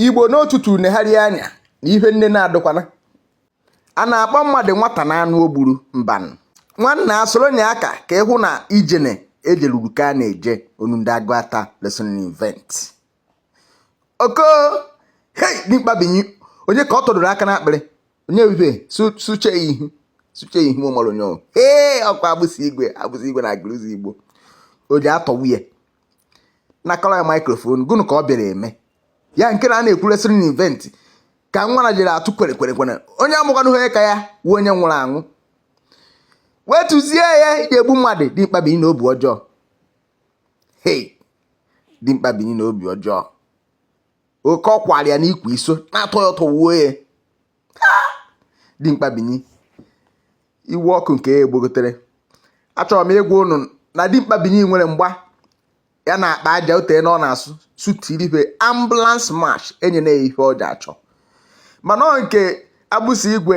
igbo n'otutu negharị anya na ihe nne na-adụkwana a na-akpọ mmadụ nwata na anụ o gburu mbanụ nwanna asoro nye aka ka ị hụ na ijene ejeluru ka a na-eje onu ndị aguata wrestling event oko hei dimkpa binyi onye ka ọ tọdoro aka n'akpịrị onye ebube suche ihu suche ihu ụmụrụ onye ee ọkwa agbụsị igwe agbụsị igwe na aguluzigbo o ji atọ nwunye nakọrọ ya microphone gụnụ ka ọ bịara eme ya nke na a na-ekwu wrestling event ka nwa na jere atụ kwere kwere kwere onye amụkwana onye ka ya wụ onye nwụrụ anwụ wetuzie ya iji egbu mmadụ dimkpa binyi n'obi ọjọọ hei dimkpa binyi n'obi ọjọọ oke ọkwara ya n'ikwu iso na-atọ ya ụtọ wuo ya dimkpa binyi iwe ọkụ nke ya egbogotere achọrọ m ịgwa ụnụ na dimkpa binyi nwere mgba ya na akpa aja otee na ọ na-asụ sutiribe ambulance march enye na ya ihe ọ ji achọ mana nke agbụsị igwe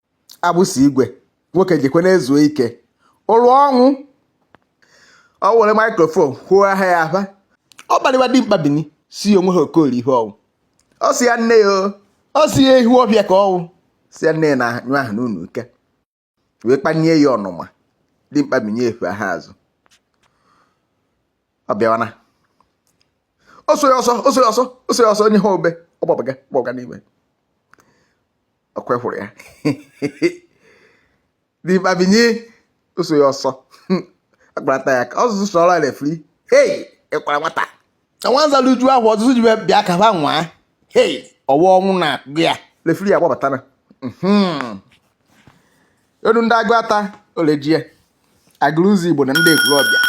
agbụsị igwe nwoke jekwe na-ezuo ike ụlụ ọnwụ ọ were microphone kwuo aha ya aba ọ kparịwa dimkpa binyi sị o nwehe okori ihe ọ wụ ọ sị ya nne ya ọ sị ya ekwulobia ka ọ wụ sị ya nne ya na-anyụ ahụ n'ụlọ ike wee kpanye ya ọnụma dimkpa binyi efe ha azụ ọ bịawana o so ya ọsọ o so ya ọsọ o so ya ọsọ onye ha obe ọ gbabaga gbabaga n'ime ọkwa hụrụ ya dimkpa binyi o so ya ọsọ akparata ya ka ọzụzụ sọrọ ọrụ referee hei ịkwara nwata nwanza rijuo ahọ ọ sị chi ye bịa ka ha nwaa hei ọwa ọnwụ na-akpụ ya referee ya gbabatana mhm. onu ndị aguata olejie aguluzigbo na ndị ekwulobia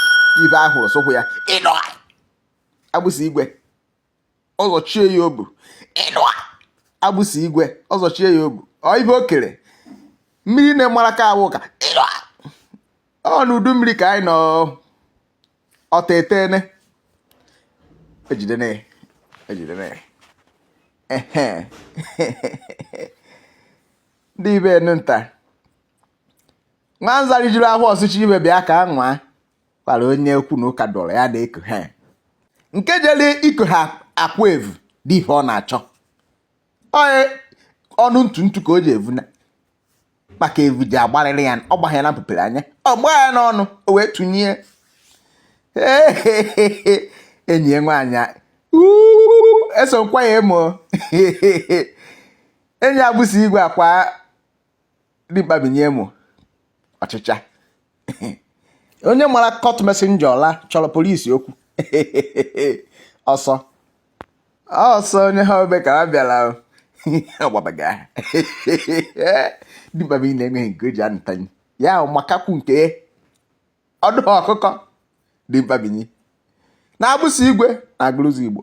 ibe ahụrụ sụkwụ ya ịnọ agbụsị igwe ọ zọchie ya obu ịnọ agbụsị igwe ọ zọchie ya obu ọ ibe o kere mmiri na-emara ka awụ ka ịnọ ọ n'udu mmiri ka anyị nọ ọta etene ejidene ejidene ehe ndị ibe enu nta nwanza rijuru ahọ ọ sị chi ye bịa ka ha nwaa kwara onye okwu na ụka dọrọ ya na-eko ha nke jere iko ha akwụ evu dị ihe ọ na-achọ ọnụ ntu ntu ka o ji evu na maka evu ji agbarịrị ya ọ gbaa ya na mpụpere anya ọ gbaa ya n'ọnụ o wee tụnye enyi ya nwaanyị eso nkwa ya emo enyi agbụsị igwe akwa dimkpa binyi mụ ọchịcha onye mara court messenger ọla chọrọ polisi okwu ọsọ ọsọ onye ha obe ka ha bịara ọgbabaga dimkpa binyi na-enweghị nke o ji anụtanye ya ahụ makakwu nke ọdụ ọkụkọ dimkpa binyi na agbụsị igwe na agụlụzigbo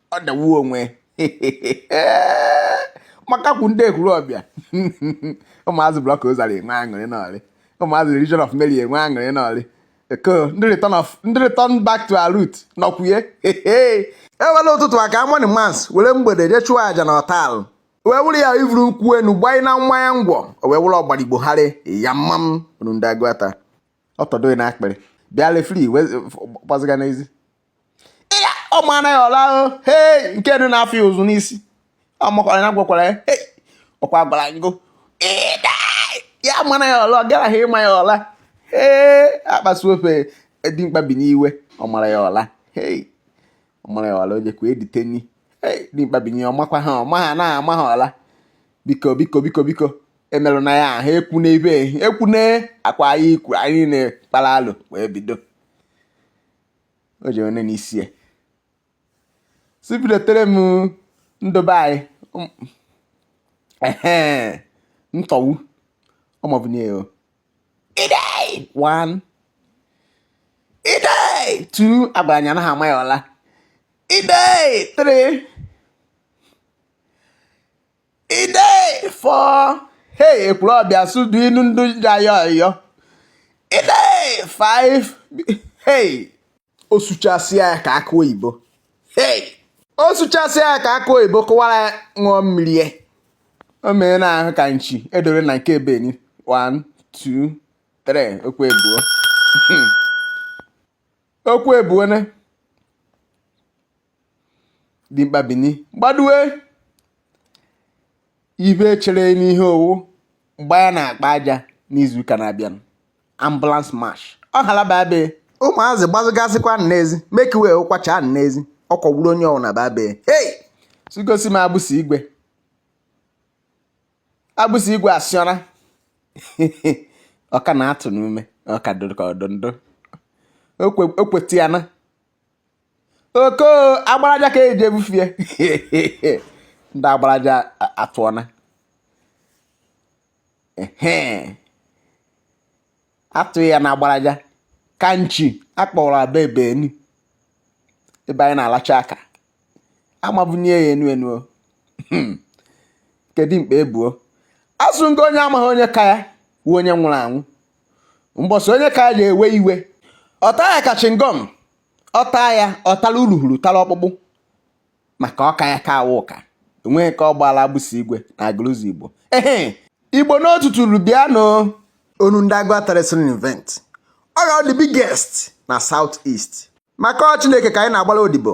ọ dawu onwe makakwu ndị ekwulọbịa ụmụazị block rosary enwe aṅụrị n'ọrị ụmụazị legion of Mary enwe aṅụrị n'ọrị eko ndị return of ndị return back to our root nọkwuye ewere ụtụtụ aka morning mass were mgbede jee chụọ aja na ọtal wee wụrụ ya ivuru nkwụ enu gbanye na mmanya ngwọ o wee wụrụ ọgbara igbo harị ya mma m unu ndị agụata ọ tọdo gị na akpịrị bịa referee wee gbaziga n'ezi ya ọ mara ya ọla ahụ hei nke dị n'afọ ya ụzụ n'isi ọ makwara ya gwakwara ya hei ọkwa gwara anyị go ya mara ya ọla ọ garaghị ịma ya ọla ee akpasu ofe dimkpa binyi iwe ọ mara ya ọla hei ọ mara ya ọla o jekwa editeni hei dimkpa binyi ọ makwa ha ọ ma ha na ama ha ọla biko biko biko biko emerụna ya ahụ ekwu n'ebe ekwu na akwa anyị kwuru anyị na-ekpara alụ wee bido o ji onye n'isi ya si bidotere m ndobe anyị um, ehe ntọwu ọmọbụ nye o idei one idei two agwara anya anaghị ama ya ọla idei three idei four hey ekwulọbịa sudu inu ndị jayọ yọ idei five hey o suchasịa ya ka akụ oyibo hey o suchasịa ya ka akụ oyibo kụwara ya ṅụọ mmiri ya o mere na ahụ ka nchi edore na nke beni 1 2 3 okwu ebuo okwu ebuo ne dimkpa binyi gbadue ibe chere n'ihe ọ wụ mgbe ya na-akpa aja n'izu ụka na-abịanụ ambulance march ọ halaba be ụmụazị gbazụgasịkwa n'ezi mekiwe ụkwacha n'ezi ọ kwọgburu onye ọ wụna ba be hey sigosi m agbụsị igwe agbụsị igwe asịọra ọ ka na-atụ n'ume ọ ka dụrụ ka ọ dụ ndụ o kwetịana oko agbaraja ka eji ebufie ndị agbaraja atụọna atụghị ya na agbaraja ka nchi akpọrọ aba ebe enu ebe anyị na-alacha aka amabunye ya enu enu hmm. kedu mkpa ebuo asụ ngọ onye amaghị onye ka ya wu onye nwụrụ anwụ mbọsị onye ka ya ga-ewe iwe ọta ya ka chingom ọta ya ọtala uruhuru tara ọkpụkpụ maka ọka ya ka awụ ụka enweghị ka ọ gbaala agbụsị igwe na Aguluzigbo ehe igbo n'otuturu bịa nọ ọnụ ndị agụ atara sịrị event ọ ga-awụ the biggest na south east maka ọ chineke ka anyị na-agbara odibo